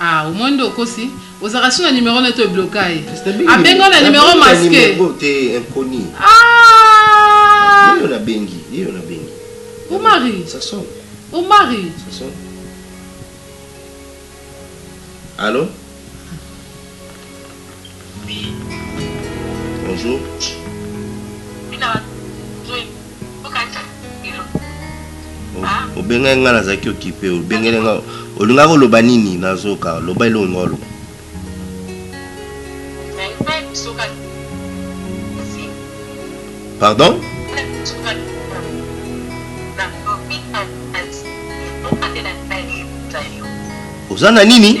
Ah omoni nde okosi ozalaka sur na numero naye to ebloka ye abenga yo na numero masque aah omari omari allo obengai ngai nazalaki okipe obengeli ngai olingaki oloba nini nazoka loba eloko ngai oloba pardon oza na nini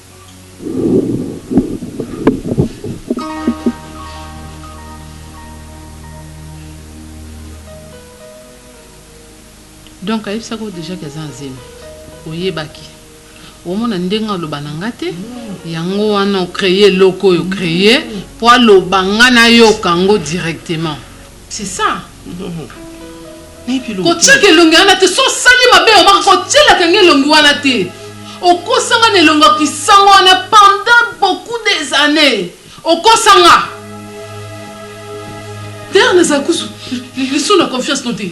donc ayebisaki oyo deja ke aza na zemi oyebaki omona ndenge aloba na nga te yango wana ocreye eloko oyo creye mpo aloba nga nayoka yango directement C'est ça. kotiaka elongi wana te so osali mabe omaka kotielaka nge elongi wana te okosanga na elongo ya kisango wana pendant beaucoup des années okosanga dayre nazala kusu lisu na confiance no te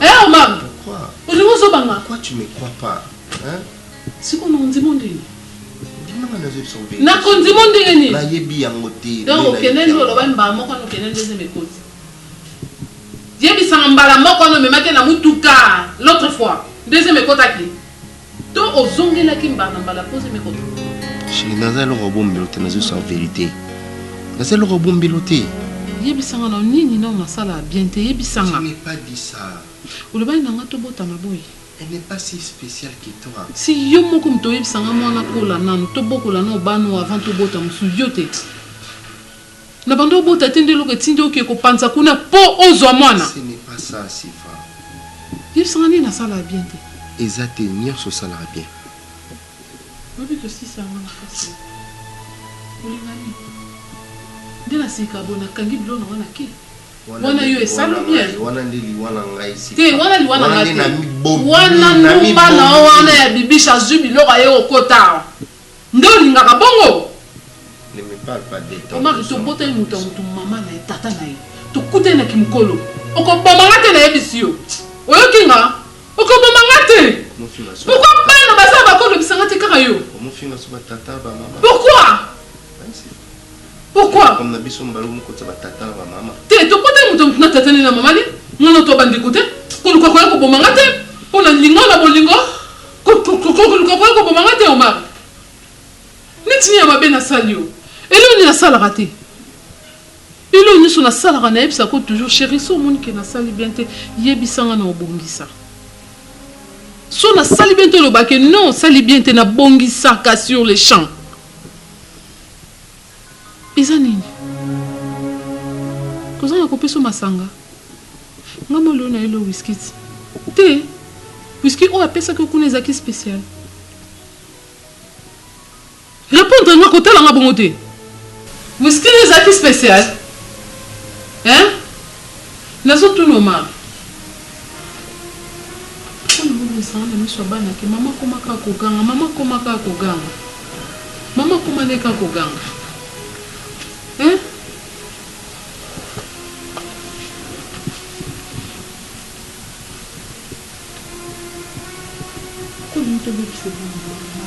Eh Omar, olingi ozobanga? Pourquoi tu me crois pas? Hein? Siko na ondimo ndenge? Ndima nga nazo yebisa obeli. Na kondimo ndenge nini? Na yebi yango te. Donc okende ndio oloba mbala moko no kende ndio zeme koti. Yebisa mbala moko no memaki na mutuka l'autre fois. Deuxième ekotaki. To ozongelaki mbala na mbala mpo ozemi kotuna? Chérie, naza eloko ya bombelo te, nazo sala verite. Naza eloko ya bombelo te. Yebisa nga nanu, nini nanu nasala bien te? Yebisa nga. Je n'ai pas dit ça. Olobaki na nga tobotama boye. Elle n'est pas si speciale que toi. Si yo moko moto oyebisa nga muana akola nanu, tobokola nanu bana oyo avant tobota mosusu, yo te? Na banda obota te nde eloko etindi oke ko panza kuna po ozwa mwana? Ce n'est pas ça Sifa. Yebisa nga nini na sala ya bien te? Eza te nionso osalaka bien. Oyebi ko sisa nga makasi eh. Olinga nini? Nde na sika boye na kangi biloko na nga na ke? Wana yo esala bien? Wana nde liwa na ngai Sifa. Te wana liwa na nga te. Wana nde na mi bomi. Wana ndumba na yo wana ya Bibiche azwi biloko aye ko kota awa. Nde olingaka bongo? Ne me parle pas de ton Omari to botali moto ya moto maman na ye tata na ye to kutani na kimukolo oko boma nga te na yebisi yo oyoki nga oko boma nga te pourquoi bana baza ya bako lobisa nga te kaka yo pourquoi pourquoi comme na biso mbala moko tsa ba tata na ba mama te to kotali moto na tata ne na mama ne nga na to bandeko te koluka koya koboma nga te pona lingo na bolingo Koluka koya koboma nga te Omar. Neti nini ya mabe nasali yo? Eloko nini nasalaka te? Eloko nyonso nasalaka nayebisaka yo toujours chérie so omoni ke nasali bien te yebisa nga na obongisa. So nasali bien te oloba ke non osali bien te nabongisaka sur le champ. Eza nini? Kozanga kopesa yo masanga? Nga mwa lelo nayeli yo whisky tse. Te! Whisky oyo apesaki yo kuna ezalaki special. Repondre nga, kotala nga bongo te! Whisky nde ezalaki special? Hein? Nazo tuna Omar. Pourquoi na bomisaka na miso ya bana que maman akoma kaka koganga, maman akoma kaka koganga, maman akoma nde kaka koganga hein? Pourquoi olingi tobebisa elongi ya mama?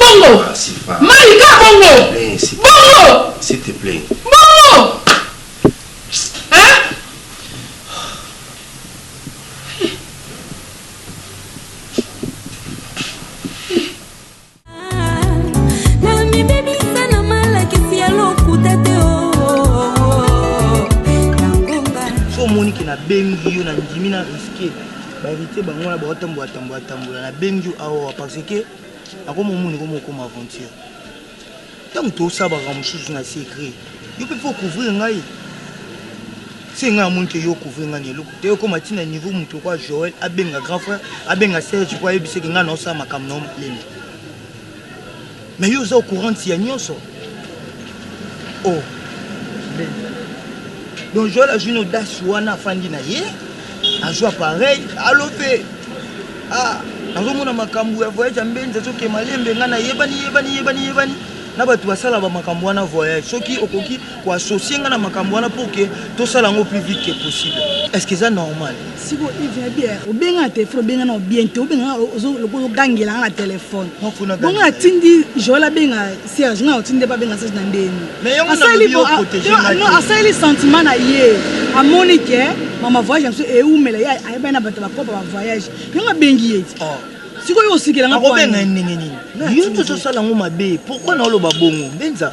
Bongo. Ah, Sifa. Malika bongo. Eh, Sifa. Bongo. S'il te plaît. Bongo. Hein? omoni ke nabengi yo na ndimi na riske Ba heritier bango wana bao tambola tambola tambola na bengi yo awa ah, parce que nako momoni ko mokoma aventure ntango tosabaka mosusu na secret yo mpe fo couvrir ngai se ngai amoni te yo couvrir ngai na eloko te okoma ti na niveau moto lokola joel abenga grand frère abenga serge mpo ayebiseke ngai naosala makambo na yo molende Mais yo oza au courant ya nionso? Oh donc Joël azwi na audace wana afandi na ye azwi appareil alope ah nazomona makambo ya voyage ya mbenzi azokema lembe ngai nayebani yebani yebani yebani na bato basala bamakambo wana voyage soki okoki ko associer nga na makambo wana pour que tosala yango plus vite que possible est ce que eza normal siko eve ya bière obenga na telefone obenga na bien te obenga lokola ogangela nga na telefone bongo natindi joel abenga serge nga otindi pa benga serge na ndeni asaleli sentiment na ye amoni ke mama voyage na biso eumela ye ayebani na bato bakopa ba voyage yango abengi ye ti oh. sikoyo osikela nga akobenga ye ndenge nini yo tozosala yango mabe pourkui naoloba bongo benza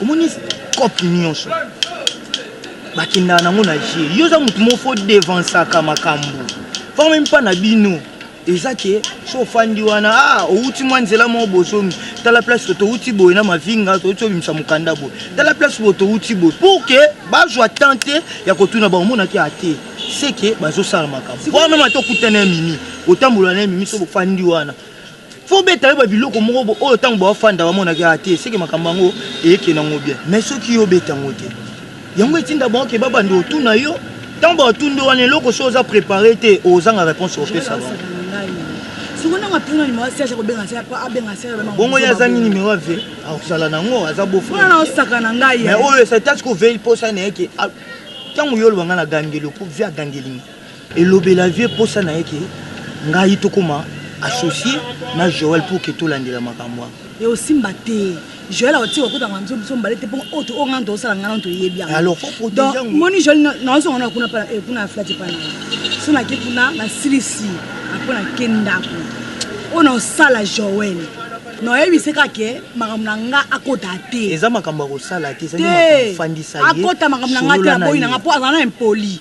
omoni cope nyonso bakendaka nango na jeu yo oza motu moko fo devansaka makambo po meme mpa na bino eza ke so ofandi wana ah, outi mwa nzela moko bozongi tala place to touti boye na mavinga touti obimisa mokanda boye tala place boye touti boye pour ke bazwa temps te ya kotuna bango monaki ate seke bazosala makambo wana meme ata okutana ya mimi otambola na ye mimi so bofandi wana fo beta yo ba biloko moko bo oyo tango ba fanda ba mona ke ate ah, seke makambo yango eke na ngobia mais soki yo beta ngo te yango etinda bango ke babanda otuna yo ntango batundo wana eloko so oza prépare te ozanga réponse opesa bongo ye azangi nimero ya ve akozala nango aza bofaoyo esatasi kovei mposa na ye ke ntango yo olobanga na gangeli opo ve agangelinga Elobela vieux posa naye ke ngai tokoma associe na Joël pour que tolandela makambo wana. Eosimba te. Joël akotika kokota na makambo biso mibale te mpo oyo oyo ngai tozosala ngai nano toyebi yango. Donc omoni Joël nazonga na kuna pana eh kuna aflati pana. So nake kuna nasilisi après nake ndako. Oyo naosala Joël. Noyebise kaka ke makambo na nga akota te. Eza makambo ya kosala te, ezali makambo fandisa ye. Te akota makambo na nga te na boyi na nga mpo azala na impoli.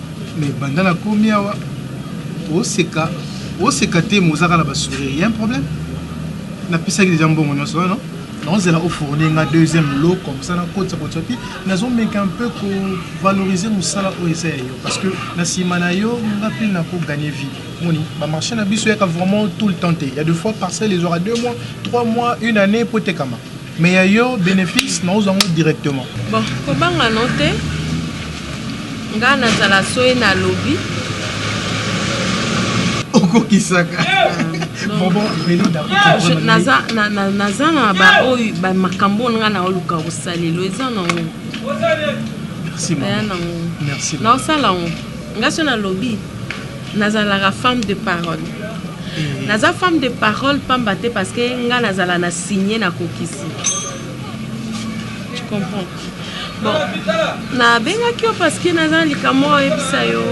Mais banda na komi awa oseka oseka te mais ozaka na ba sourire ya un problème napesaki deja mbongo nyonso wana naozela ofourni nga deuxième lot comme ça nakotisa kotisa te nazomeka un peu kovaloriser mosala oyo eza ya yo parce que na nsima na yo nga mpe nakogagne vie moni bamarché na biso yaka vraiment tout le temps te ya deux fois parcelle ezwaka deux mois trois mois une année mpo etekama Mais ya yo benefice na ozwa ngo directement. Bon, kobanga no te. Nga nazala soye na lobi. Okokisaka. naza na baoyo bamakambo oyo ngai naoluka kosalelo eza nango aya nango naosala yango ngai so nalobi nazalaka femme de parole naza femme de parole pamba te parce que nga nazala na signe na kokisi tu comprends bon nabengaki yo parce que naza likambo oyebisa yo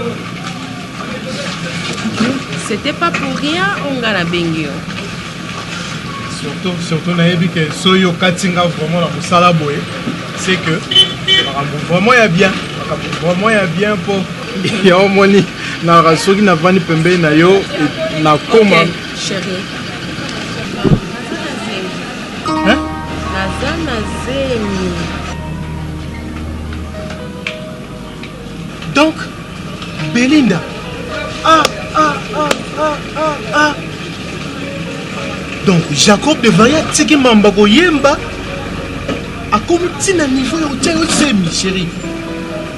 c'était pas pour rien oyo nga nabengi yo surtout surtout nayebi ke soki okati nga vraiment na mosala boye c'est que makambo vraiment ya bien makambo vraiment ya bien mpo Yango omoni naka soki navandi pembeni na yo nakoma naza na zemi donc belinda ah, ah, ah, ah, ah, ah. donc jacob de vaya atiki mamba koyemba akomi ntina niveau ya kotya yo zemi sheri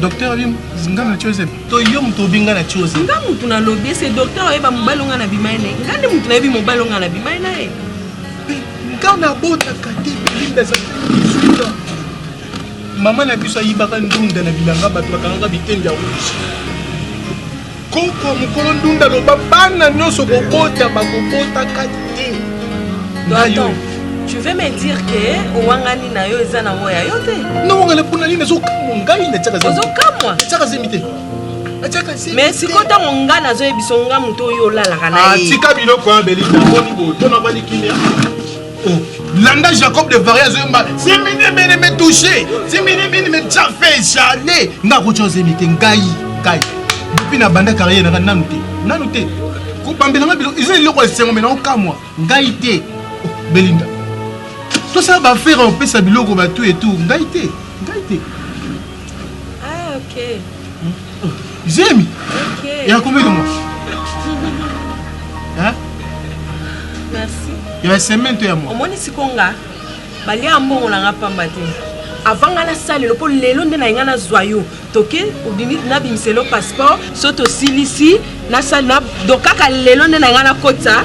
docteur abi nga na chosen to yo moto obi nga na chosen nga moto nalobi ese docteur oyeba mobali onga na bimai na ye nga nde moto nayebi mobali onga na bimai na ye nga nabotaka te bilinda ezali mama na biso ayibaka ndunda na bilanga bato bakangaka bitenge ya rouge Koko mukolo ndunda loba bana nyoso kobota bakobotaka te. Attends, tu veux me dire que owangani na yo eza na ngo ya yo te? Na wangana pona nini ezokamwa ngai na tiaka zemi. Ozokamwa? Na tiaka zemi te. mais sikoyo ntango ngai nazoyebisa yo ngai moto oyo olalaka na ah, ye tika biloko ya belita boni boye mpo nabandi kimia Oh, landa Jacob de Varia zoyemba zemi ne mene me touche zemi ne mene me tja fait jale nga kotya zemi te ngai ngai depuis na banda carrière nanga nanu te nanu te kobambela nga biloko eza eloko ya esengo me naokamwa ngai te oh, belinda tosala bafere opesa biloko batu etu ngai te ngai te ah, okay. zemi okay. ya combien de mois hein? merci ya semaine to ya mois omoni sikonga balia mbongo na nga pamba te avant nga nasalelo mpo lelo nde na ye nga nazwa yo toke obimi nabimiselo passeport so tosilisi nasala donc kaka lelo nde na ngai nakota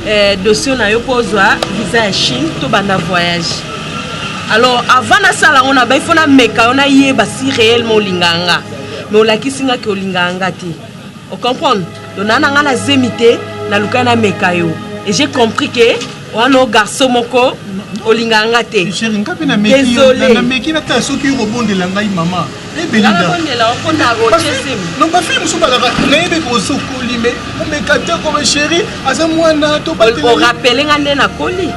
eh, dossier na yo mpo ozwa visa ya chine tobanda voyage alors avant nasala yango na bai fo nameka yo nayeba si réellement olingaka nga mais olakisi nga ke olingaka nga te ocomprendre donc naa na ngai na zemi te nalukaki nameka yo et j'ai compris ke wana o garçon moko olingaka nga te chéri nga mpe nameki natala soki yo kobondela ngai mama non bafilme mosusu balaka nayebi kosokoli me omeka te koma chéri aza mwana toorapele nga nde nakoli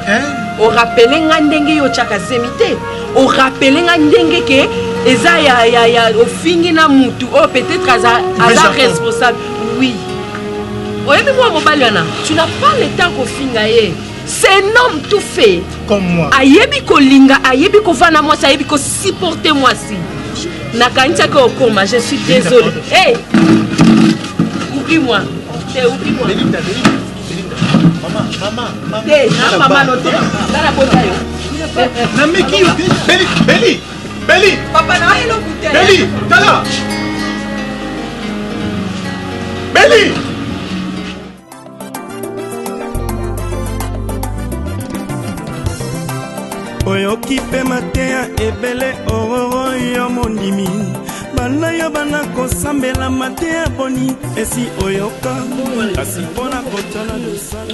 orapele nga ndenge yo otyaka zemi te orapele nga ndenge ke eza ya ofingi na mutu oyo oh, peut-être aza responsable oui Oyebi mwa mobali wana, tu n'as pas le temps kofinga ye. C'est un homme tout fait. Comme moi. Ayebi kolinga, ayebi kovanda mwasi, ayebi ko supporter mwasi. Nakanisaki okoma, je suis désolé. Hey! Oublie-moi. Te oublie-moi. Belinda, Belinda, Belinda. Maman, maman, maman. Te, na maman no te. Nana bota yo. Nameki yo. Beli, Beli. Beli. Papa na ayo kuta. Beli, tala. Beli. oyoki mpe mateya ebele ororo yo mondimi bana yo bana kosambela mateya boni esi oyoka kasi mpo na kotala losala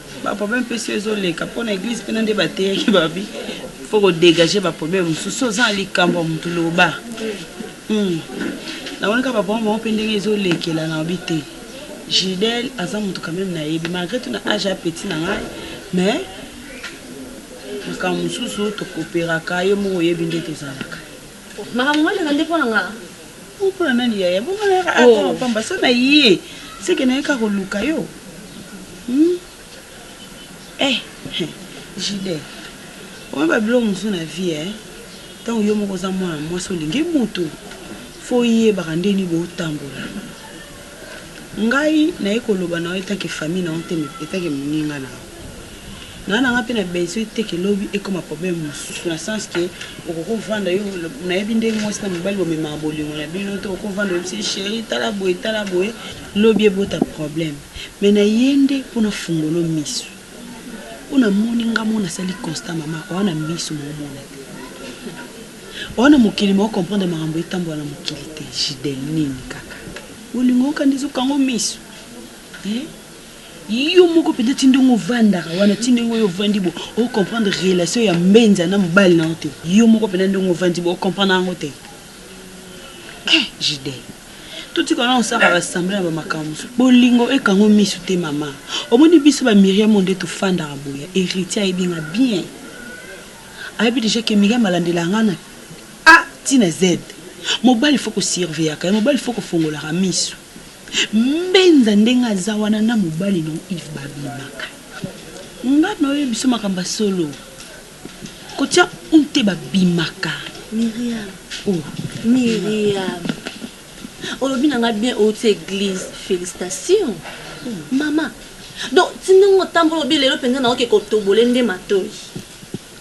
Ba problème pe si ezo leka po na eglise pe na nde ba teyaki ba bi faut ko degager ba problème mususu oza na likambo ya mutu loba hum na moni ka ba problème bango pe ndenge ezo lekela na bi te Gidel aza mutu quand même na yebi malgré tout na age ya petit na ngai mais makambo mususu to cooperaka yo moko oyebi nde tozalaka makambo ngai leka nde po na ngai Mpona nani yaya bongo na yaka oh. pamba pamba so na ye seke na ye ka koluka yo hmm? eh jide oyo babiloko mosusu na vie eh? ntango yo moko oza mwana mwasi olingi motu fo oyebaka ndeni botambola ngai naye koloba na yo etake famille na yo te etake moninga na yo Nga nanga pe na besoin te que lobi ekoma problème mususu na sens que okoko vanda yo nayebi ndenge muasi na mobali bomemaka bolingo na bino te okoko vanda oyebisi ye cherie tala boye tala boye lobi ebota problème mais na ye nde po na fungolo misu po na moni nga moko na sali constat mama oza na misu mais omona te oza na mokili mais o comprendre makambo etambola na mokili te jidel nini kaka bolingo okanisi okango misu eh Yo moko penza ti ndenge ovandaka wana ti ndenge oyo ovandi bo o comprendre relation ya mbenza na mobali na yo te yo moko penza ndenge ovandi bo o comprendre yango te eh JD totika wana kosaka ba semblant ya ba makambo mosusu bolingo ekanga yo misu te mama omoni biso ba Miriam oyo nde tofandaka boye Heritier ayebi nga bien ayebi dejà ke Miriam alandelaka nga na A ti na Z mobali faut ko surveillaka ye mobali faut kofongolaka misu. Mbenza ndenge aza wana na mobali na yo Yves ba bimaka nga na yo oyebi biso makambo ya solo kotia un te ba bimaka Miriam oh Miriam olobi na nga bien outi eglise felicitation oh. mama donc ti ndenge otambola obi lelo mpenza naoke kotobole nde matoi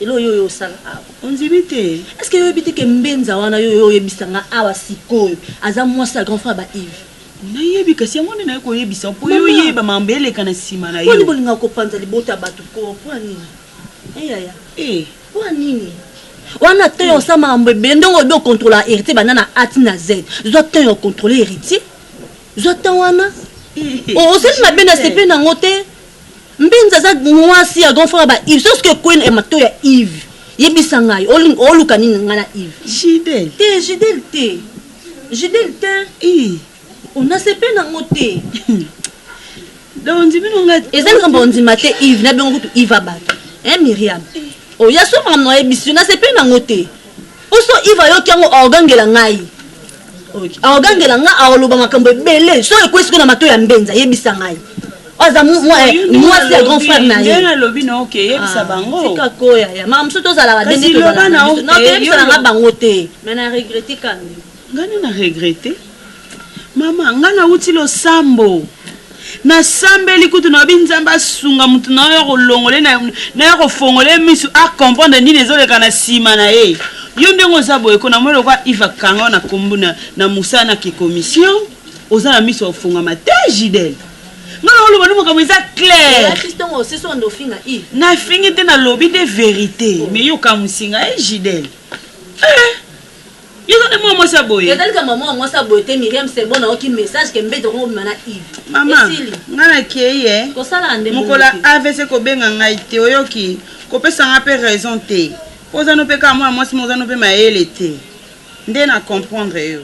Eloko yo oye osala awa ondimi te est ce que yo oyebi te ke mbenza wana yo oye oyebisa nga awa sikoyo aza mwasi ya grand frère ba Yves? Nayebi kasi yango nde naye koyebisa yo po yo Maman! oyeba mambo eleka na sima na Mpo nini yo. bolingaka kopanza libota ya bato koo? Mpo ya nini? Eh yaya, Eh. mpo ya nini? Wana temps ya kosala makambo ebele ndenge olobi ocontrolaka heritier banda na A ti na Z. Zwa temps ya ocontrole heritier. Zwa temps wana. Eh, O- Osali mabe na sepeli na yango te. Mbinza aza muasi ya grand frère ba Yves. Sauf que Queen et Mato ya Yves. Yebisa ngai, oluka nini ngai na Yves? Jidel. Te, Jidel te. Jidel te. Ii. On a sepe na ngo te. Donc ndimi no ngai. Eza likambo ondima te Yves, na bengo kutu Yves abatu. Hein Myriam? Oya soma na yebisi, na sepe na ngo te. Poso Yves ayoki yango aogangela ngai. Aogangela ngai aoloba makambo ebele so ekwesi ko na mato ya mbenza yebisa ngai. Aza mwasi ya grand frère na ye. Ngai lobi na oke yebisa bango. Tika koya ya mama mosusu tozalaka dende tozalaka. Kasi loba na oke yebisa na ngai bango te. Mais na regretter kaka. Nga nde na regrette maman nga na wuti losambo na sambeli kutu na lobi nzambe asunga mutu na oyo akolongole na ya kofongole misu a comprendre nini ezoleka na sima na ye yo ndenge oza boye ko na moni lokola Yves akanga na kombo na na musala na ki commission oza na misu ya kofongama te Gidel nga na oloba nde makambo eza claire na fingi te na lobi nde verite mais yo okamusi nga eh Gidel eh Yo oza pe mwana mwasi ya boye. Ezali kaka mama mwasi ya boye te Miriam c'est bon nayoki message ke mbeto koko bima na Yves. Mama Esili. nga na keyi eh. Kosala nga nde bongo Mokolo ya te. avc kobenga ngai te oyoki. Kopesa nga pe raison te. Po oza no pe kaka mwana mwasi mais oza no pe mayele te. Nde na comprendre yo.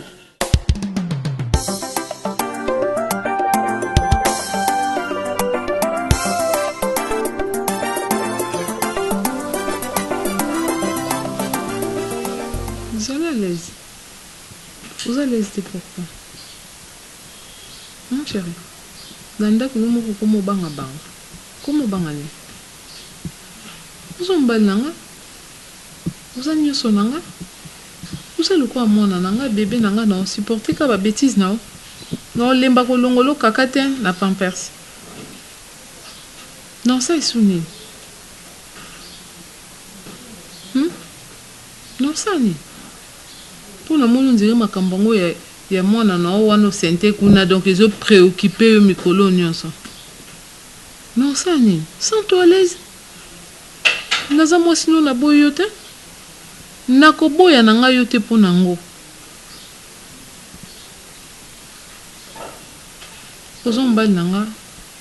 Zala à l'aise. Oza à l'aise te pourquoi? Hum cherie. Na ndaku yo moko okoma obanga banga. Okoma obanga nini? Oza mobali na nga. Oza nioso na nga. Oza lokola mwana na nga, bebe na nga nao supporter kaka ba betises na yo. Nao lemba ko longola yo kaka te na pampers. Nao salisa yo nini? Hum. Nasali po na moni on dirait makambo yango ya ya mwana na yo wana o center kuna donc ezo preoccuper yo mikolo oyo nionso. Mais osala nini? Sens toi à l'aise naza mwasi na yo naboyi yo te nako boya na ngai yo te po na ngo oza mobali na nga.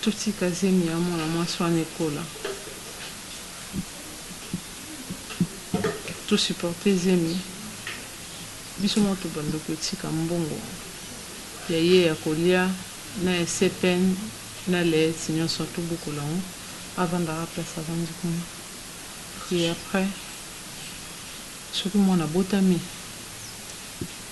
Totika zemi ya mwana mwasi wana ekola. To supporter zemi biso moko tobanda kotika mbongo ya ye ya kolia na ya CPN na Leethi nionso tobokola yango avandaka place avandi kuna et après soki mwana abotami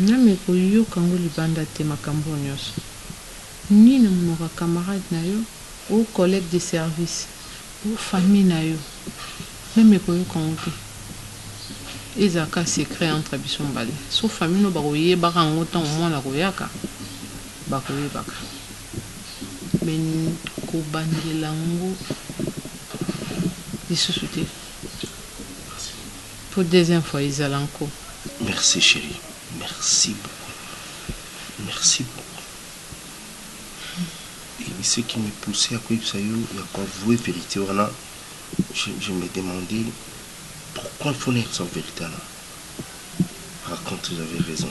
Nzambe ko yoka ngo libanda te makambo oyo nioso nini na munoko ya camarade na yo ou collegue de service ou famille na yo nzambe ko yoka ngo te ezala kaka secret entre biso mibale sauf famille no bako yebaka ngo tango mwana ako yaka bako yebaka. mais kobangela ngo lisusu te po deuxième fois ezala nko. Merci cherie merci beaucoup merci beaucoup et ce qui me pousse ya koyebisa yo ya ko avouer verite wana je, je me demandais pourquoi il faut nayebisa verite wana par contre j'avais raison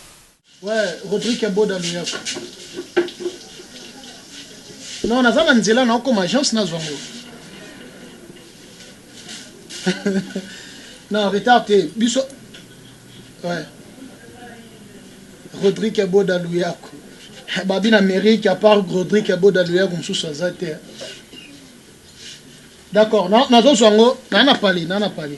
Ouais, Rodrigue ya Boda Loyako. Non, naza na nzela na okoma agence na zongo. non, retard te. Biso Ouais. Rodrigue ya Boda Loyako. Babi na Amérique à part Rodrigue ya Boda Loyako mosusu aza te. D'accord, na nazo zongo, na na pali, na na pali.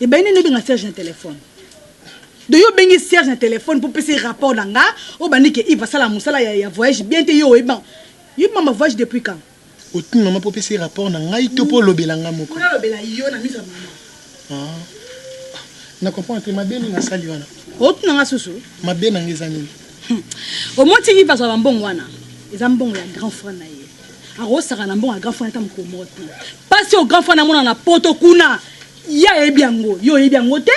Ebale nini obenga Serge na telephone? Do yo bengi Serge na telephone pour pese rapport na nga, o bandi ke Yves asala musala ya, ya voyage bien te, yo oyebi ba, yoyebi mama voyage depuis quand? Otuni mama po pese rapport na ngai to po olobela nga moko? Po nalobela yo na miso ya mama. Ah. Na comprendre te, mabe nini nasali wana? Otuna nga susu? Mabe na nga eza nini? Hum. Omoni ti Yves azwa ba mbongo wana? Eza mbongo ya grand frère na ye. akokosaka na mbongo ya grand frère ata mokolo moko te mpasi oyo grand frère namona na poto kuna ye ayebi yango yo oyebi yango te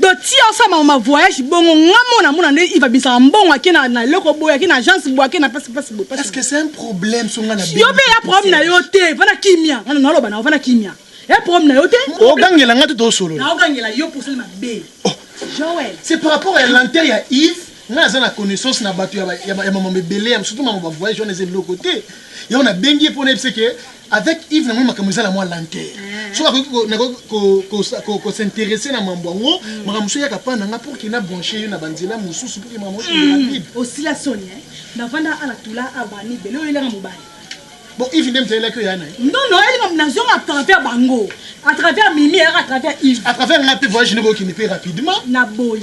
donc ti osala ma voyage bongo nga mona mona nde iva bisaka mbongo ake na na eloko boye ake na agence boye ake na pasi pasi boye parce que c'est un problème so nga na yo pe ya problème na yo te vana kimia nga na loba na vana kimia ya problème na yo te ogangela nga te to solo na ogangela yo pour sala mabe oh. Joël c'est par rapport à l'intérêt ya Yves Nga naza na connaissance na batu ya mamambo ebele ya surtout mamambo ba voyage wana eza eloko te yango na bengi ye pona yebisa ke avec Yves na moni makambo eza na mwa lenteur mm. so akoki ko s'intéresser na mambo yango mm. makambo mosusu eyaka pa na nga pour kina branche ye na banzela mosusu pour makambo mosusu mm. rapide osila soni navanda ala tula abani bele oyelanga mobali bon ivi nde mizalelaki oyo yana non non elinga nazonga à travers bango à travers mimi à travers ivi à travers nga mpe voyage nde kokende mpe rapidement na boyi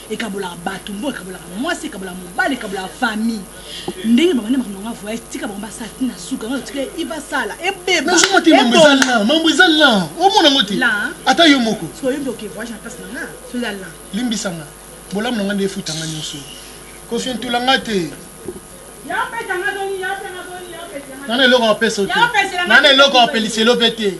ekabolaka bato mbo ekabolaka mwasi ekabolaka mobali ekabolaka famille ndenge babandi makambo yanga voyage tika bango basala ti na suka yango tika ibasala ebebamambo eza la omona yango te ata yo moko soyembi oke voyage na place na nga so eza la limbisa nga bolamu na nga nde efutanga nyonso kofientula nga te nana eloko apesa te nana eloko apeliselo mpe te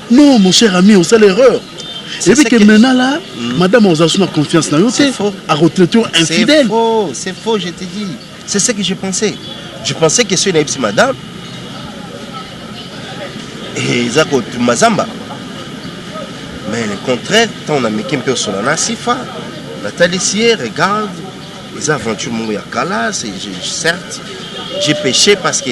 Non, mon cher ami, on sait l'erreur. C'est Et puis ça que qui- maintenant là, Mm. madame Ozasu n'a confiance dans C'est yote, faux. à retraiter C'est infidèle. faux, c'est faux, je te dis. C'est ce que je pensais. Je pensais que soki nayebisi madame eh, eza kotuma zamba mais le contraire ntango nameki mpe osola na sifa natalisi ye regarde eza aventure moko ya kala c'est- je- certes j'ai péché parce que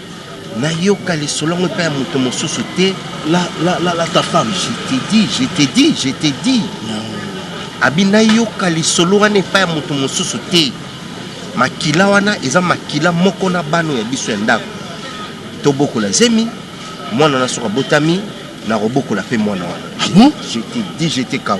Nayoka lisolo yango epai ya moto mosusu te. La, la, la, la ta femme. Je te dis, je te dis, je te dis. Abi nayoka lisolo wana epai ya moto mosusu te. Makila wana eza makila moko na bano ya biso ya ndako. Tobokola zemi, mwana na soka botami, nakobokola pe mwana wana. Ah bon? Je te dis, je te kao.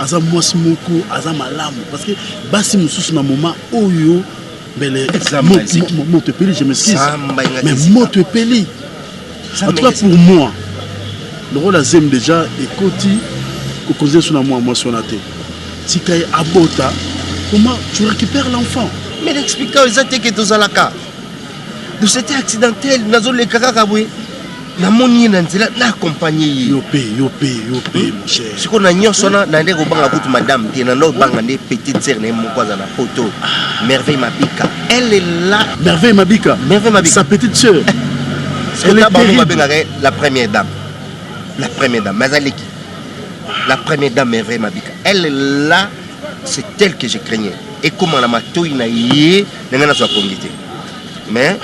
aza mwasi moko aza malamu parce que basi mosusu na moma oyo mbele moto epeli je m'excuse mais moto epeli en tout cas pour moi lokola zemi déjà ekoti kokonzi yesu na mwa mwasi wana te tika ye abota comment tu récupères l'enfant mais l'explika eza te ke tozalaka dosete accidentel nazoleka kaka boye namoni ye na nzela na accompagne ye yo pe yo pe yo pe hmm? mon cher siko na nyonso wana na nde kobanga kutu madame te na nde obanga nde petite sœur na ye moko aza na poto ah. merveille mabika elle est là merveille mabika merveille mabika sa petite sœur elle est terrible babengaka la première dame la première dame mais azaleki la première dame merveille mabika elle est là c'est elle que je craignais ekoma na matoi na ye ndenge nazwa pongi te Mais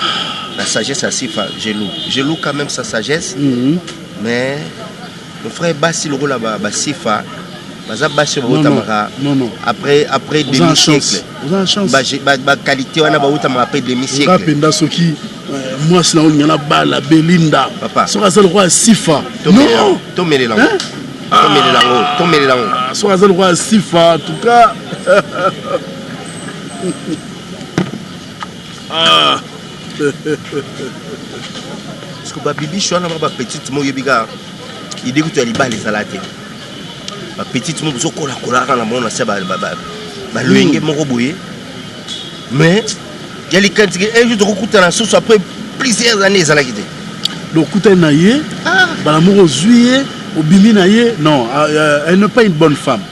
la sagesse ya Sifa, je loue. Je loue quand même sa sagesse. Mm -hmm. Mais mon frère basi lokola ba, ba Sifa baza basi oyo bautamaka après après demi siècle baqualité wana bautamaka après demi siècle mpenza soki euh, mwasi na olinga na bala belinda soki aza lokola sifa tomelela tomelela yango ah. tomelela yango ah, soki aza lokola sifa en tout cas ah. parce que babibishi wana ba bapetite mo oyebi kaka ide kutu ya libala ezala te bapetite mo bozokolakolaka na mona se baloyenge hmm. moko boye mais ya likanisi ke un jour tokokutana susu après plusieurs années ezalaki te donc okutani na ye ah. bala moko ozwi ye obimi na ye non ah, euh, elle n'est pas une bonne femme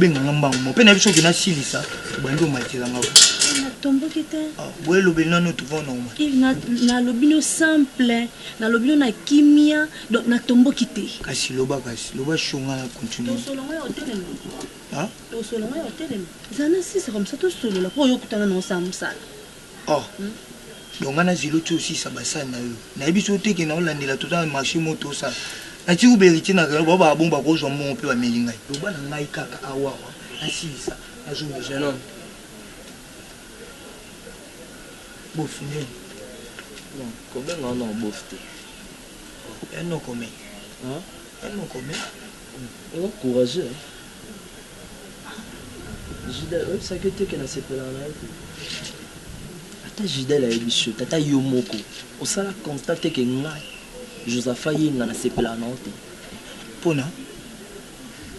obenga nga mbango mo mpe na biso okenda silisa obandi omatela nga tomboki te ah, boye elobeli nano tovanoma nalobi no simple nalobi no na kimia donc natomboki te kasi loba kasi loba shonga na continue zana sisa comme ça tosolola mpo oyo okutana na osala mosala Oh donc nga na zela otie osilisa ba sani na yo nayebisi yo te ke nao landela toza na marche moko to sala natiki kuba heritier na rayon bao ba bongo bako zua mbongo pe ba meli ngai. Loba na ngai kaka awawa nasilisa nazo mela. Jeune homme bof nde Non kobenga yo noko bof te. Oh ya noko mais ya noko mais. Oza courageux hein. Juda oyebisaki yo te ke nasepelaka na yo te? Ata Judel ayebisi yo te, ata yo moko osala constat te ke ngai Josaphat Yenga nasepelaka na yo te? Pona?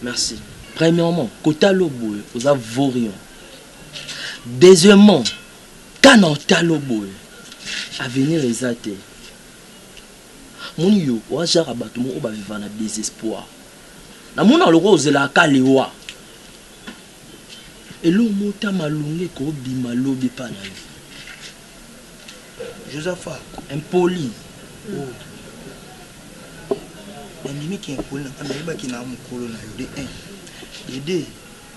Merci. Premièrement, kota lo boye oza vaurien. Deuxièmement, kana ota lo boye avenir eza te. Omoni yo oa genre ya batu moko ba vivaka na desespoir. Na monaka lokola ozelaka ka liwa. Eloko moko te ya malonga eko bima lobi epa na yo. Josapha impoli oh. Na ndimi ki impoli na nga na yebaki na mukolo na yo de un. De deux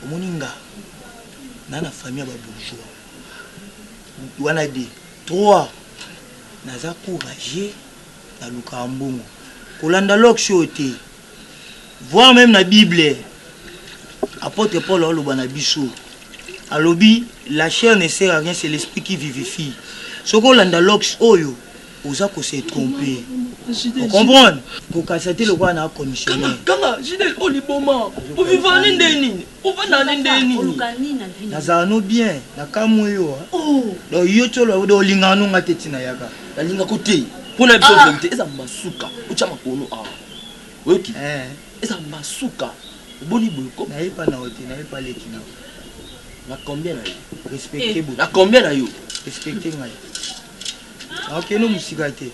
omoni nga na na famille ya ba bourgeois. Wana de. Trois naza courageux nalukaka mbongo kolanda lox oyo te voir meme na bible apotre Paul aoloba na biso alobi la chair ne sert à rien c'est l'esprit qui vivifie soki olanda lox oyo oza ko se tromper o comprendre kokanisa te lokola na commissionnaire kanga kanga JDL oyo liboma ovivani nde nini Ovanda ne ndenge nini? Oluka nini na vie na yo? Nazala no bien, na kamue yo ha. Oh! Donc yo ti oloba donc olingaka no nga te ti nayaka? Na linga ko te. Po na biso verite eza masuka. Otia makono awa. Oyoki? Eza masuka. Oboni boye ko. Naye pa nao te, naye pa leki nao. Na combien na yo? Respecte botu. Na combien na yo? Respecte ngai. Nakokende o mosika te,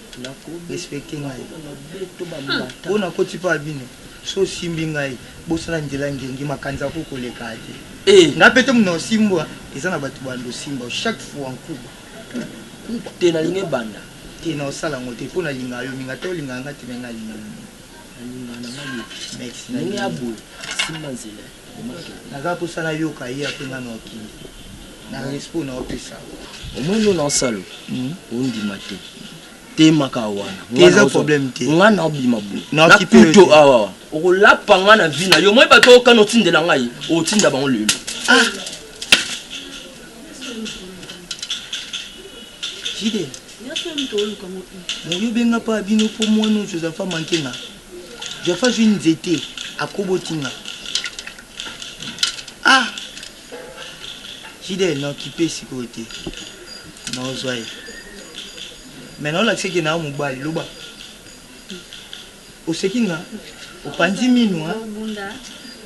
respecter ngai po nakoti epai ya bino, soki osimbi ngai bosana nzela ngengi makanza akoki koleka ya te eh. Ngai pe te mutu na osimbwa eza na batu banda osimbwa chaque fois nkuba nkuba te nalingi ebanda te na osala ngo te po nalinga yo mingi ata olingaka ngai te me ngai nalinga yo mingi nalinga na ngai yo merci nalinga ya boye simba nzela naza posa nayoka ye ape ngai na okende Na respect na opesa. Omoni yo na osalo ondima te temaka wana te eza problème te nga na obima bu na kuto awa okolapa nga na vie na yo moi bato okana otindela ngai otinda bango lelo ah Fidèle. moyobenga mpa bino mpo mwana oyo josepha manke nga josepha zwi nzete akobotinga ah Fidèle na occupe sikoyo te na ozwa ye mais na olakisa ke na yo mobali loba oseki nga opanzi minu hein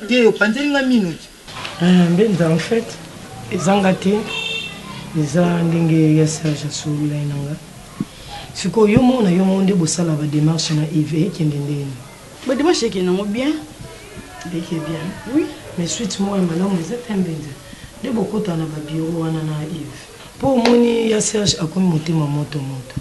te opanzeli nga minu te Ah Mbenza en fait eza nga te eza ndenge ya Serge asololai na nga sikoyo yo moko na yo moko nde bosala ba demarche na Yves ekende ndeni? Ba dimanche eke nango bien. Eke bien oui mais suite moko ya malamu eza te mbenza nde bokota na ba bureau wana na Yves po omoni ya Serge akomi motema moto moto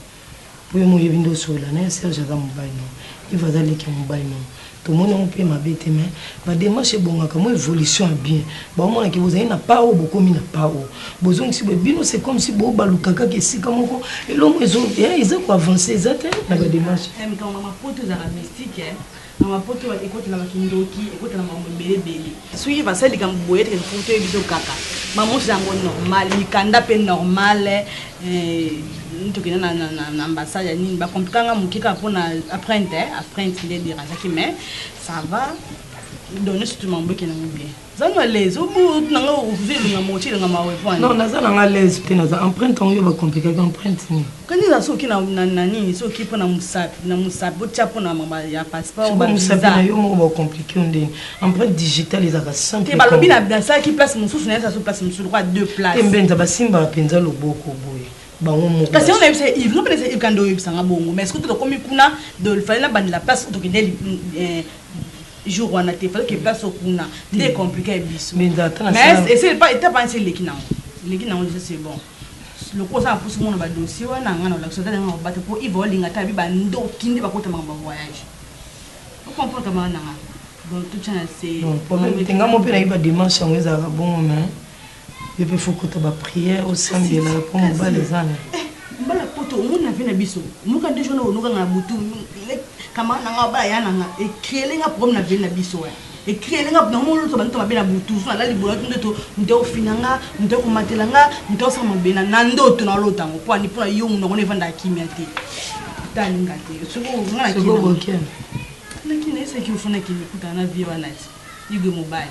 po yo moyebi nde osolola naye Serge aza mobali na yo Yves aza leki ya mobali na yo tomoni yango pe mabe te mais Ba demarche ebongaka mwa evolution ya bien baomona ke bozali na pas oyo bokomi na pas oyo bozongisi boye bino c'est comme si bo baluka kaka esika moko eloko ezo eh eza ko avancer eza te na ba demarche. Eh likambo na mapoto ezalaka mystique eh na mapoto ekota na ba kindoki ekota na makambo ebele ebele. Soki basali likambo boye te il faut toyeba biso kaka makambo nionso eza yango normal mikanda mpe normal eh tokende na na na ambassade ya nini ba compliquer nga moke kaka mpo na apprente eh apprente nde e derangeaki mais Ça va donne surtout mambo ekenda ngo bien za na les obutu na nga okokuza elonga moti elonga mawe pwani non naza na nga les te naza empreinte yango yo bacomplikaki empreinte nini kani eza soki na nini soki mpo na mosapi na mosapi botya mpo na mama ya passeport mosapi na yo moko bacomplike yo ndeni empreinte digitale ezaka simple balobi nasalaki place mosusu na yesa so place mosusu lokola deux place te mbenza basimbaka mpenza loboko boye bango moko kasi on a yebisa Yves non pesa Yves kande oyebisa nga bongo mais est-ce que tokomi kuna de fallait na bandela place tokende eh, jour wana te fallait que place okuna nde compliqué biso mais ese pas étape wana eleki nango eleki nango déjà c'est bon lokola oza na mposa omona badossier wana nga na olakisa ata nanga kobata mpo iva olinga ata abi bandoki nde bakota makambo ya voyage okomprendre kamana nanga donc totya na se nga mo mpe nayebi bademarche yango ezalaka bongo mais Yo pe faut kota ba prière osambela po mobali eza na yo. Mbala poto omoni na vie na biso noka nde jour na onoka nga na butu camarade na nga abala ya na nga e creele nga problème na vie na biso eh e creele nga na moni loto ba ndoto mabe na butu jour na lali boye na ndoto moto ako finga nga moto ako matela nga moto ako sala mabe na na ndoto na lota ngo po ani po na yo munoko na evanda kimia te ta alinga te soko nga na kina na kina esa ki ofana ki mikuta na vie wana ti yugo mobali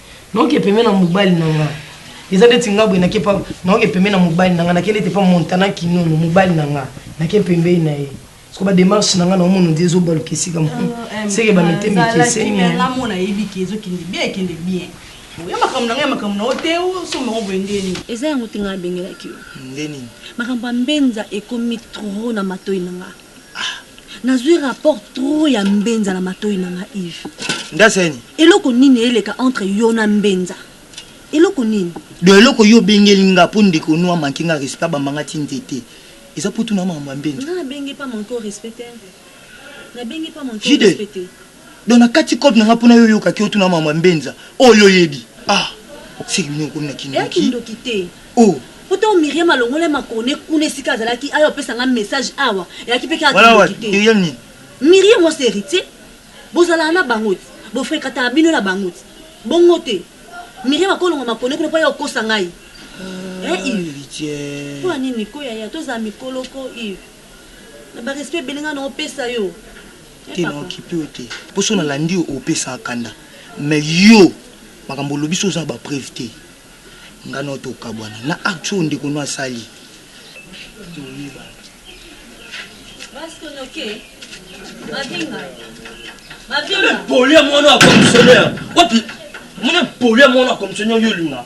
Naoke pembeni na mobali na nga Eza ndeti nga boye nake pa Naoke pembeni na mobali na nga Nake ndeti pa Montana Kinono Mobali na nga Nake pembeni na ye Siko ba demarche na nga na omona ondire ezo baluka esika moko Seke ba mete mikeseni eh Nga mona yebi ke ezo kende bien ekende bien Oya makambo na nga ya makambo na yo te o somba ngo boye nde nini? Eza yango te nga na bengelaki yo Nde nini? Makambo ya mbenza ekomi trop na matoyi na nga. Ah, nazui rapport trop ya mbenza na matoyi na nga Yves. Ndasa ya nini? Eloko nini eleka entre yo na mbenza? Eloko nini? Do eloko yo bengeli nga po ndeko no a manque nga respect a bamba nga ti nzete. Eza po tuna makambo ya mbenza. Nga na bengi pa manque yo respect te. Na bengi pa manque yo respect te. Donc na kati coop na nga pona yo yoka ki otuna maman mbenza oyo yo yebi ah seke bino okomi na kindoki. Eya kindoki te. Oh. Po tango Miriam alongolaki makone kuna esika azalaki aya opesa nga message awa eyaki pe kaka kindoki te. Miriam nini? Mirie mwasi ya Heritier bozalaka na bango te bo frekataka bino na bango te bongo te Miriam akolonga makone kuna po aya okosa ngai eh Yves po ya nini ko yaya tozala mikolo ko Yves na ba respect ebele nga na opesa yo Te na occupe yo te po soki na landi yo opesa kanda mais yo makambo olobi soki oza na ba preuve te nga na yo to kabuana na acte oyo ndeko no asali to yebana. Mone poli ya mwana wa komisionere wapi? Mone poli ya mwana wa komisionere yo olinga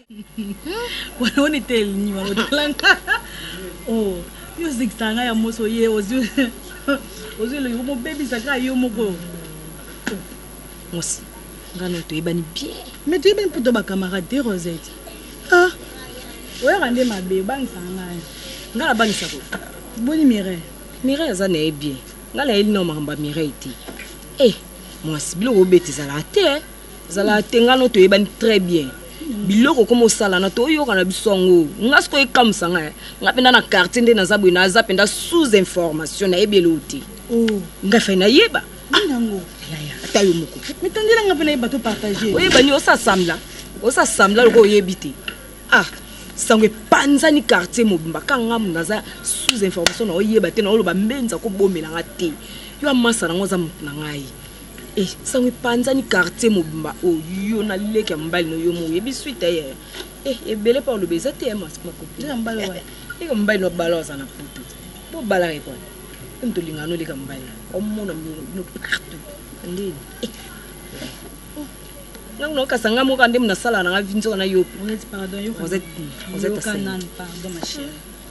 wana one tel ni wana otalanga oh music sanga ya moso ye ozwi ozwi eloki komobebisa kaka yo moko mosi ngano toyebani bien me toyebani mpo to bacamarade te rosette ah oyaka nde mabe obangisaka ngai ngai nabangisa ko boni mireille mireille aza na ye bien ngai nayeli nao makambo ya mireille te e eh, mwasi biloko obeta ezalaka te eh. zala tengano toyebani très bien biloko okoma osalana toyoka na biso yango nga siko ekamusa nga eh. nga mpenda na quartier nde naza boye naza mpenda sous information nayebi eloo te oh. nga fai nayeba nango ah, ata yo moko mitandela nga mpe nayeba to partage oyebani osasambla osasambla loko oyebi te ah sango epanzani quartier mobimba ka ngamu naza sous information na oyeba te na oloba mbenza kobomela nga te yo amasa nango aza motu na ngai Eh, sango epanzani quartier mobimba oyo oh, yo na leki ya mobali no yo mo oyebi suite ye eh, eh, ebele mpe oloba eza te makopileki ya mobali wana leki ya mobali no bala aza na poto bobalaka ye kwana emi tolingana no leki ya mobali omona bino partout ndeni ntango oh, naokasa ngai moka nde nasala na ngai vi nzoka na yo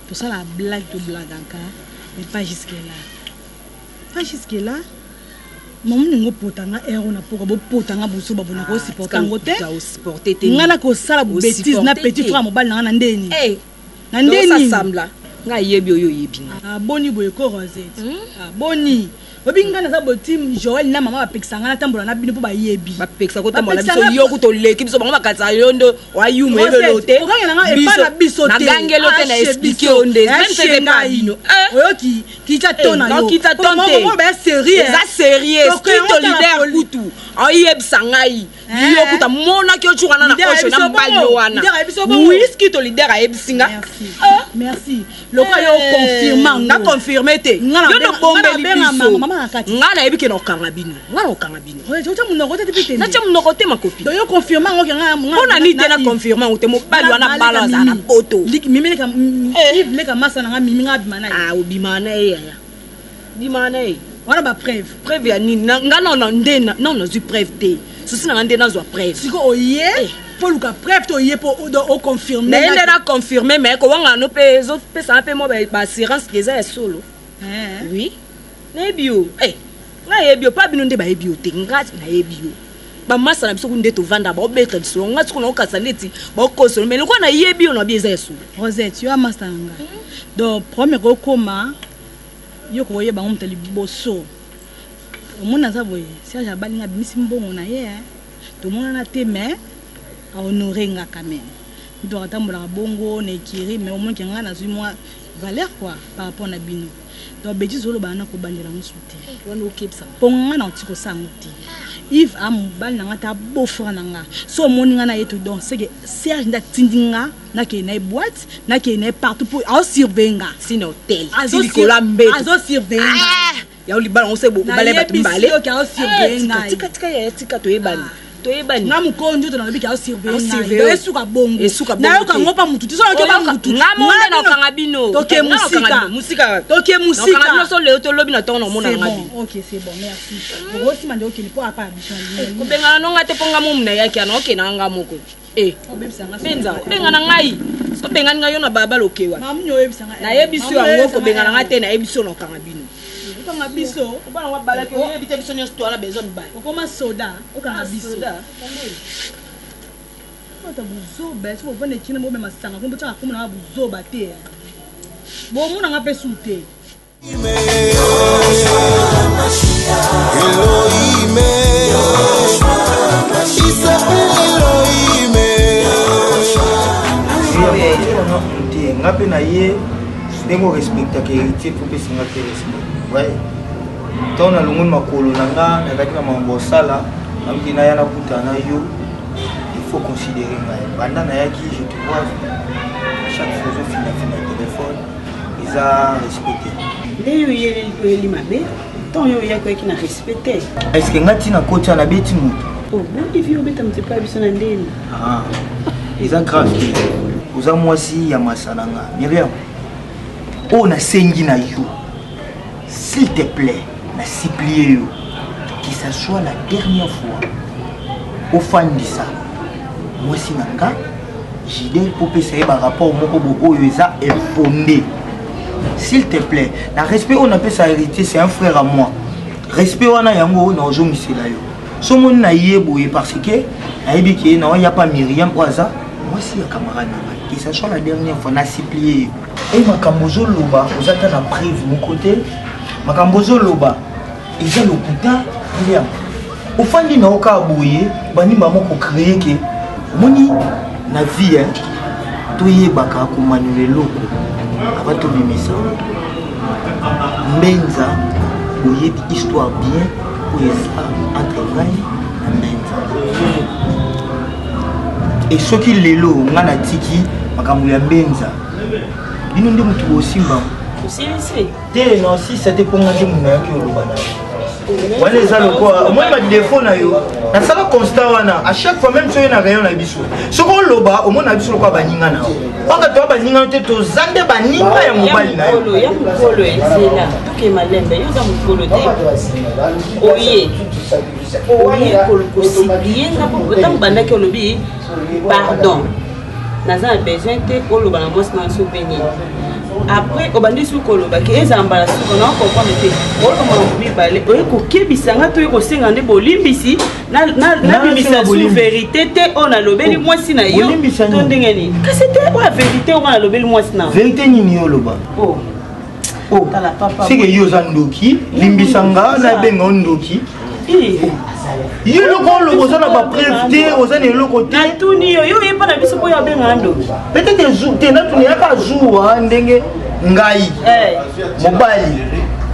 tosala blague toblagaka mais pas jusque là Pas jusque là. Mamu ningo pota nga ero na poka bo pota nga buso babu na ko ah, supporter ngo te. Au supporter te. Nga na ko sala bêtise na petit frère mobali na nga na ndeni. Eh. Na ndeni. Donc ça semble. Nga yebi oyo yebi nga. Ah boni boye ko Rosette. Hmm? Ah boni. obi nga naza botim joel na mama bapekisa nga natambola na bino mpo bayebi bapekisa kotambola biso yo kuta oleki biso bango bakatisa yo nde wayuma elolo te okangela nga epa na biso te nagangelo te na ah, explike yo nde eh, oyoki kita to na yo kita to te moko ba sérieux eza sérieux strict leader kutu oyebisa ngai yo kuta mona ki ochuka na na osho na mbali wana oui strict leader ayebisi nga merci lokola yo confirma nga confirme te yo no bombeli biso nga na yebi ke na okanga bino nga na okanga bino natya monoko te makopi mpo na nini te na confirme yango te mobali wana bala azala na poto obimaka na ye yaya bimaka na ye wana ba preuve preuve ya nini nga nano nde nano nazwi preuve te susi nanga nde nazwa preuve siko oye mpo eh. oluka preuve te oye mpo oconfirme naye nde na confirme mai kowangana no mpe ezopesana mpe mwa baassurance ke eza ya solo eh. oui nayebi yo eh, nga nayebi yo pa bino nde bayebi yo te nga nayebi yo bamasa na biso kuna nde tovanda baobeta lisolo nga sikoyo naokasa neti baokosolo mai lokola nayebi yo na bi eza ya solo rosette yo amasa na nga donc problème ekokoma yo kokoyeba yango moto liboso omoni aza boye serge abali nga abimisi mbongo na ye eh. tomonana te mais ahonore nga quand même moto akatambolaka bongo na ekiri mais omonike nga nazwi mwa valeur quoi par rapport na bino Donc ba betises oloba wana kobandela yango su te. Wana okebisa. Po nga na oti kosala yango te. Yves a mobali na nga ta beau frère na nga. So omoni nga na ye to donc seke Serge nde atindi nga na kende na ye boîte, na kende na ye partout po azo surveiller nga. Ti na hotel, ti likolo ya mbeto. Azo surveiller nga. Yango libala ngo se bokobala ye batu mibale. Na yebisi yo ke azo surveiller nga. Tika tika yaya tika toyebani. toyebani nga mokolo njoto nalobi ke aosurveilleesuka bongo nayoka ngo mpa motu tisoyoka motu nga monde nakanga bino toke mosika mosika toke mosika nakanga bino so leo to lobi na tongo na omona nga bi ok c'est bon merci okosima nde okende mpo apa abisha kobengana no nga te mpo nga momu nayaki ana okenda nga moko Eh, benza obengana ngai obengani ngai yo na balabala okewa nayebisi yo yango kobengana ngai te nayebisi yo na okanga bino okanga biso obana ngo abalaki oyebi te biso nyonso towana bezo mibale okoma soda okanga ah, biso ata buzoba soki ovanda ekina bobema sanga kombo tyaka komona nga buzoba te bomona nga mpe su te nga mpe na ye ndenge orespectaka héritier mpo opesa nga te respect way ntango nalongoli makolo na nga nazalaki na makambo osala naluki naya nakuta na yo il faut considérer ngai banda nayaki je te vois chaque fois ozofina fina telefone eza respect te nde yo oyeleli koyeli mabe ntango yo oyaki oyaki na respect te eske nga ntina koti wana beti moto oboti oh, vi obeta moto epai ya biso na ndeni ah, eza grave te oza mwasi ya masala nga miriam oyo nasengi na yo S'il te plait, na supplier yo, que ça soit la dernière fois, ofandisa mwasi na nga jide kopesa ye barapport moko booyo eza infonde s'il te plaît na respect oyo napesa héritier c'est un frère à moi respect wana yango oyo naozongisela yo so moni na ye boye parce que nayebi ke na oya pa miriam oyo aza mwasi ya camarade na ngai que ça soit la dernière fois na supplie ye Hey, makambo ozo loba oza ata na preuve moko te makambo ozo loba eza lokuta lia ofandi na yo kaka boye bandi bango kocreye ke omoni na vie toyebaka komaniola eloko aba tobimisa mbenza boyebi histoire bien oyo eza entre ngai na mbenza e soki lelo nga natiki makambo ya mbenza bino nde motu bosimba osilisi te na osilisa te mpo nga nde moto nayaki oloba na yo wana eza lokola omoni badefo na yo nasala constat wana a chaque fois même soki na rayon na biso soki oloba omoni na biso lokola baninga na yo mpaka toya baninga no te toza nde baninga ya mobali na yoya mokolo ezela toke malembe yo oza mokolo te oye oyekolukosiyenga mpo ntango bandaki olobi pardon naza na besoin te oloba na mwasi na nso mpe nini après obandi soki koloba ke ezala mbala suka na okomprendre te olomaka mibale oye kokebisa nga to oye kosenga nde bolimbisi nabimisa su verité te oyo nalobeli oh, mwasi na yo to ndenge nini kasi te oyo verité oyo nalobeli mwasi na verité nini yo oloba oh. Oh, seke yo oza ndoki limbisa nga nabenga o ndoki yo eloko oloba oza na bapreuve te oza na eloko te natuni yo yo oyeba na biso mpo yo abengaka ndoki peut-être te natuni yaka zuwa ndenge ngai eh. mobali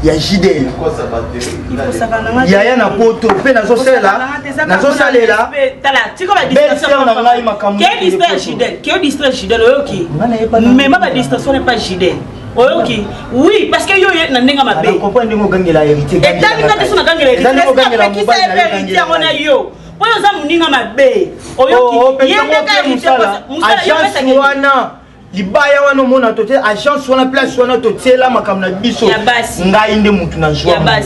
ya jidel yaya na poto mpe nazosalela nazosalela belser na ngai makambo mema badistraction epa jidel oyoki oui parce que yo na ndenge mabe etali nga te so nagangela heritier heritier yango na yo mpo yo oza moninga mabe oyoki oh, oh, ye ndenge heritier mosala yo pesaka libaya wana omona to te agence wana place wana totiela makambo na biso ngai nde motu na zwa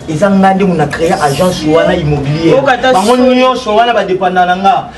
eza ngai nde mona créer agence wana immobilier bango nyonso wana badepanda na nga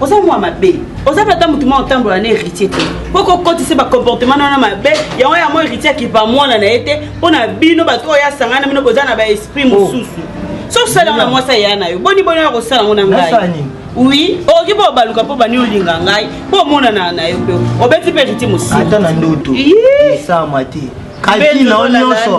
oza mwa mabe oza mpe ata motu mwa otambola na héritier te mpo kokotisa bacomportement na wana mabe yango yango héritier akipa mwana na ye te mpo na bino bato oyo asanga na bino boza na baesprit oh. mosusu soki osala yango na mwasi aya na yo boni boni oya kosala yango na ngai oui okoki mpo obaluka mpo bani olinga ngai mpo omonana na yo mpe obeti mpe héritier mosata na ndoto esama te kalkina o nyonso